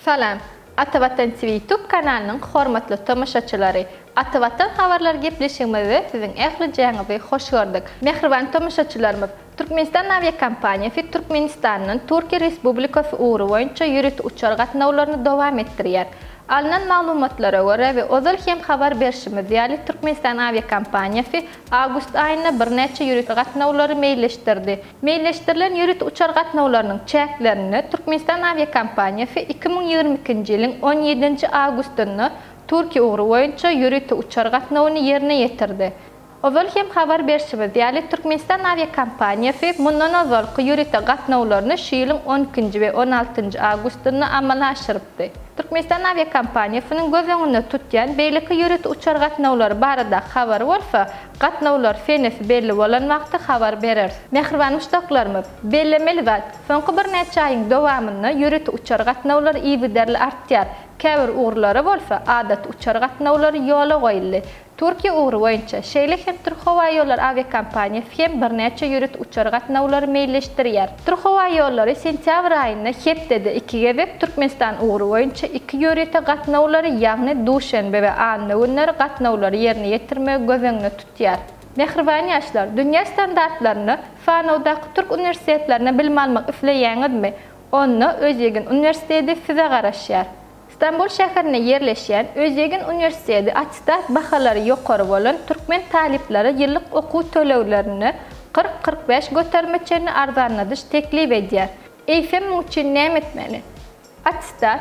Salam! Atavatan TV YouTube kanalynyň hormatly tomaşaçylary! Atavatan habarlar gepleşigimizde siziň ählijäňizi hoş gördük. Mähriban tomaşaçylarymyz, Türkmenistan awiakompaniýasy Türkmenistandan Türkiýe Respublikasy ugry boýunça ýörite uçar gatnawlaryny dowam etdirýär. Alnan maglumatlara görä we ozal hem habar berşimiz ýaly Türkmenistan awiakompaniýasy Awgust aýynda birnäçe ýörite gatnawlary meýilleşdirdi. Meýilleşdirilen ýörite uçar gatnawlarynyň çäklerinde Türkmenistan awiakompaniýasy iki müň ýigrimi ikinji ýylyň on ýedinji awgustynda Türkiýe ugry boýunça ýörite uçar gatnawyny ýerine ýetirdi. Ozal hem habar berşimiz ýaly, Türkmenistan awiakompaniýasy mundan ozalky ýörite gatnawlaryny şu ýylyň on ikinji we on altynjy awgustynda amala aşyrypdy. Türkmenistan awiakompaniýasynyň göz öňünde tutýan beýleki ýörite uçar gatnawlary baradaky habary bolsa, gatnawlar senesi belli bolan wagty habar bereris. Mähriban muşdaklarymyz, bellemeli zat, soňky birnäçe aýyň dowamynda ýörite uçar gatnawlary yzygiderli artýar, käbir ugurlara bolsa adaty uçar gatnawlary ýola goýuldy. Türkiýe ugry boýunça, şeýle hem Türkhowaýollar awiakompaniýasy hem birnäçe ýörite uçar gatnawlary meýilleşdirýär. Türkhowaýollary sentýabr aýynda hepdede iki gezek Türkmenistan ugry boýunça iki ýörite gatnawlary, ýagny duşenbe we anna günleri gatnawlary ýerine ýetirmegi göz öňünde tutýar. Mähriban ýaşlar, dünýä standartlarynda sanawdaky türk uniwersitetlerinde bilim almak isleýäňizmi? Onda Özýegin uniwersiteti size garaşýar. Stambul şäherinde ýerleşýän Özýegin uniwersiteti attestat bahalary ýokary bolan türkmen talyplara ýyllyk okuw töleglerini kyrk-kyrk bäş göterime çenli arzanladyş teklip edýär. Eýsem muň üçin näme etmeli? Attestat,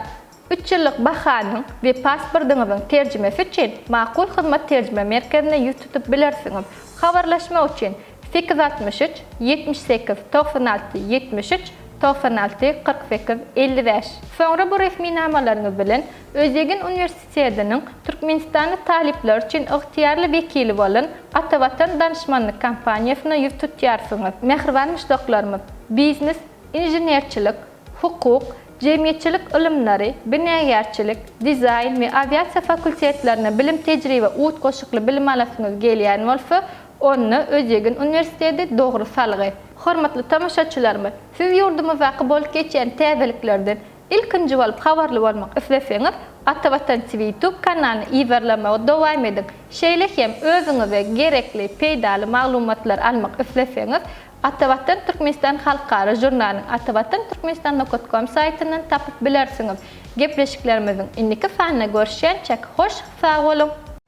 üç ýyllyk bahanyň we paspordyňyzyň terjimesi üçin Makul hyzmat terjime merkezine ýüz tutup bilersiňiz. Habarlaşmak üçin, Sekiz altmyş üç, ýetmiş sekiz, togsan alty, ýetmiş üç, togsan alty, kyrk sekiz, elli bäş. Soňra bu resminamalaryňyz bilen Özýegin uniwersitetiniň türkmenistanly talyplar üçin ygtyýarly wekili bolan Atavatan danyşmanlyk kompaniýasyna ýüz tutýarsyňyz. Mähriban muşdaklarymyz, biznes, inženerçilik, hukuk, jemgyýetçilik ylymlary, binagärçilik, dizaýn we awiasiýa fakultetlerine bilim-tejribe utgaşykly bilim alasyňyz gelýän bolsa, Onda Özýegin uniwersiteti dogry salgy. Hormatly tomaşaçylarymyz, siz ýurdumyzdaky bolup geçýän täzeliklerden ilkinji bolup habarly bolmak isleseňiz, Atavatan TV YouTube kanalyny yzarlamagy dowam ediň. Şeýle hem özüňize gerekli peýdaly maglumatlary almak isleseňiz, Atavatan Türkmenistan halkara žurnalyny Atavatan Türkmenistan nokat kom saýtyndan tapyp bilersiňiz. Gepleşiklerimiziň indiki sanynda görüşýänçäk hoş sag boluň!